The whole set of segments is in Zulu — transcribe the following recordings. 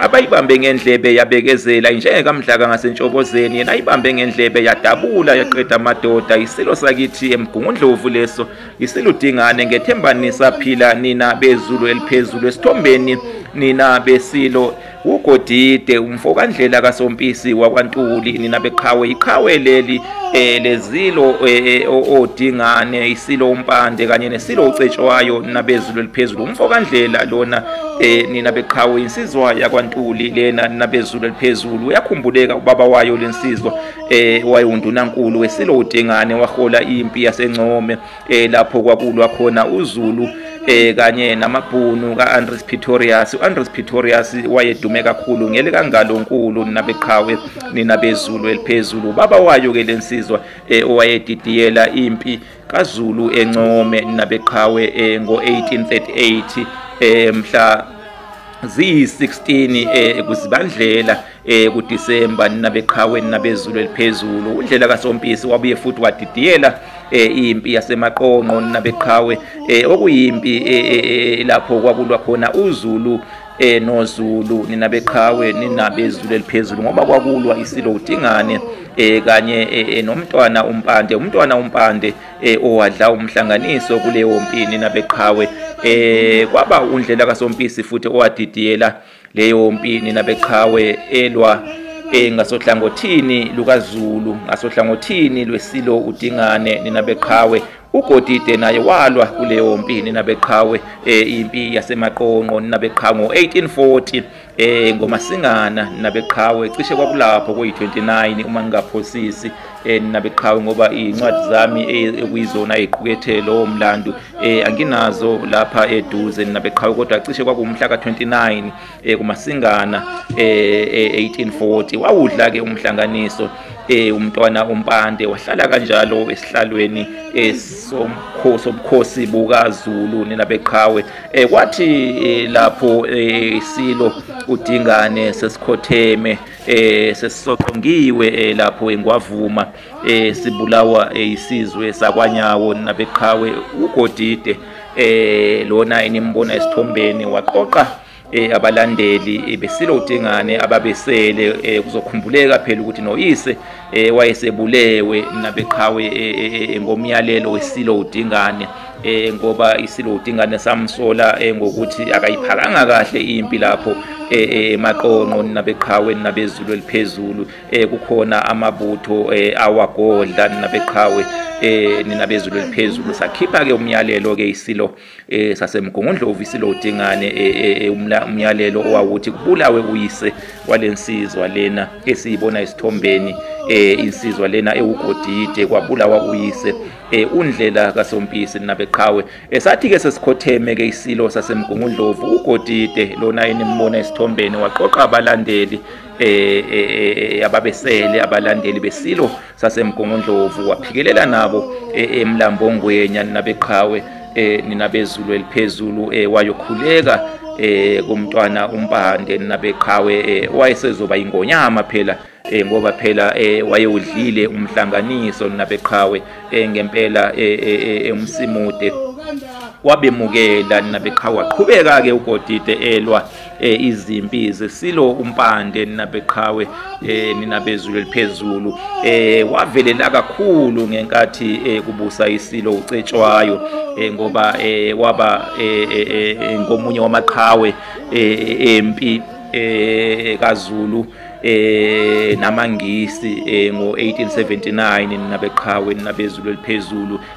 abayibambe ngendlebe yabekezela injenge kamdlaka ngasentshobozeni yena ayibambe ngendlebe yadabula yaqeda amadoda isilo sakithi emgungundlovu leso isiludingane ngethembani saphila nina bezulu eliphezulu esithombeni nina besilo ugodide umfokandlela kasompisi wakwantuli nina beqhawe iqhawe leli eh lezilo eh, eh, odingane isilo umpande kanye nesilo ucetshwayo nabezulu eliphezulu umfo kandlela lona eh nina beqhawe insizwa yakwantuli lena nabezulu eliphezulu uyakhumbuleka ubaba wayo lensizwa eh wayundunankulu wesilo udingane wahola impi yasencome eh lapho kwakulwa khona uZulu eh kanye namabhunu kaAndres Pretorius uAndres Pretorius wayedume kakhulu ngele kangalonkulu nabeqhawe nina bezulu eliphezulu baba wayo ke lensizwa eh, owayedidiyela impi kaZulu encome nabeqhawe eh, ngo1838 eh, mhla ziyi16 eh kuzibandlela eh kuDisemba nina beqhawe nina bezulu eliphezulu undlela kaSompisi wabuye futhi wadidiyela eh impi yasemaqonqo nina beqhawe eh okuyimpi eh, eh, eh, lapho kwakulwa khona uZulu eh noZulu nina beqhawe nina bezulu eliphezulu ngoba kwakulwa isilo uDingane eh kanye eh, nomntwana uMpande umntwana uMpande eh owadla umhlanganiso kuleyo mpi nina beqhawe eh kwaba undlela kaSompisi futhi owadidiyela Leyo mpi nina beqhawe elwa eh, ngasohlangothini lukaZulu ngasohlangothini lwesilo uDingane nina beqhawe uGodide naye walwa kuleyo mpi nina beqhawe eh, impi yasemaqonqo nina beqhango 1840 eh ngomasingana nina beqhawe cishe kwakulapho kuyi 29 uma ngingaphosisi eh, nina beqhawe ngoba izincwadi zami eh, ekuyizona eziqukethe lowo mlando eh, anginazo lapha eduze nina beqhawe kodwa cishe kwakuwumhla ka-29 eh, kumasingana eh, eh, 1840 wawudla-ke umhlanganiso eh umntwana umpande wahlala kanjalo esihlalweni eh, somkhosi sobukhosi bukaZulu nina beqhawe eh kwathi eh, lapho eh, isilo udingane sesikhotheme eh sesisoqongiwe eh, lapho engwavuma eh sibulawa eh, isizwe sakwanyawo nabeqhawe ugodide eh lona inimbona esithombeni waqoqa eh abalandeli eh, besilo udingane ababesele eh, kuzokhumbuleka phela ukuthi noyise eh wayesebulewe mina beqhawe eh, eh, eh, ngomyalelo wesilo udingane eh ngoba isilo udingane samsola eh, ngokuthi akayiphakanga kahle impi lapho eh maqonqo nabeqhawe nabezulu eliphezulu eh kukhona amabutho eh awagodla nabeqhawe eh ninabezulu eliphezulu sakhipha ke umyalelo ke isilo eh sasemgongondlovu isilo uDingane eh, eh, eh, umyalelo owawuthi kubulawe uyise walensizwa lena esiyibona isithombeni eh insizwa lena ewugodide kwabulawa uyise eh undlela kasompisi nabeqhawe esathi ke sesikhotheme ke isilo sasemgongondlovu ugodide lona enimona esithombeni waqoqa abalandeli eh ababesele abalandeli besilo sasemgongondlovu waphikelela nabo e, emlambongwenya ninabeqhawe e, ninabezulu eliphezulu e, wayokhuleka kumntwana umpande ninabeqhawe wayesezoba ingonyama phela eh ngoba phela eh wayewudlile umhlanganiso nabeqhawe eh ngempela eh, eh, eh, eh umsimude wabemukela nabeqhawe waqhubeka ke ugodide elwa eh izimpi zesilo umpande ninabeqhawe eh ninabezulu eliphezulu eh wavelela kakhulu ngenkathi eh kubusa isilo ucetshwayo eh ngoba eh waba eh, eh, eh, eh ngomunye wamaqhawe eh empi eh kaZulu eh namangisi eh ngo 1879 ninabeqhawe ninabezulu eliphezulu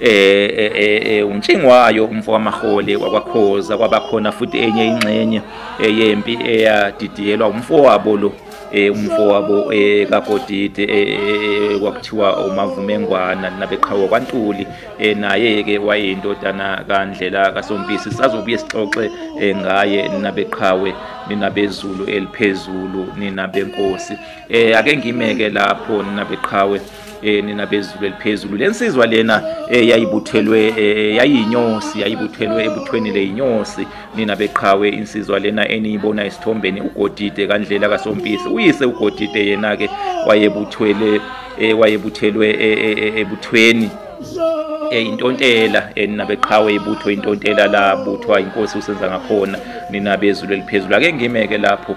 eh, eh, eh, eh uNtshingwayo umfo wamahole wakwaKhoza kwabakhona futhi enye ingxenye yempi eyadidiyelwa umfowabo lo eh umfowabo eh kaGodide eh kwakuthiwa uMavumengwana nabeqhawe kwaNtuli eh naye ke wayeyindodana kaNdlela kaSompisi sazobuye sixoxe ngaye nabeqhawe nina bezulu eliphezulu nina benkosi eh ake ngimeke lapho nina beqhawe eh nina bezulu eliphezulu lensizwa lena eh, yayibuthelwe eh, yayinyosi yayibuthelwe ebuthweni leyinyosi nina beqhawe insizwa lena eniyibona isithombeni ugodide kandlela kasompisi uyise ugodide yena ke wayebuthwele eh, wayebuthelwe eh, eh, eh, ebuthweni eh, intontela eh, nina beqhawe ibutho intontela labuthwa inkosi usenza ngakhona nina bezulu eliphezulu ake ngimeke lapho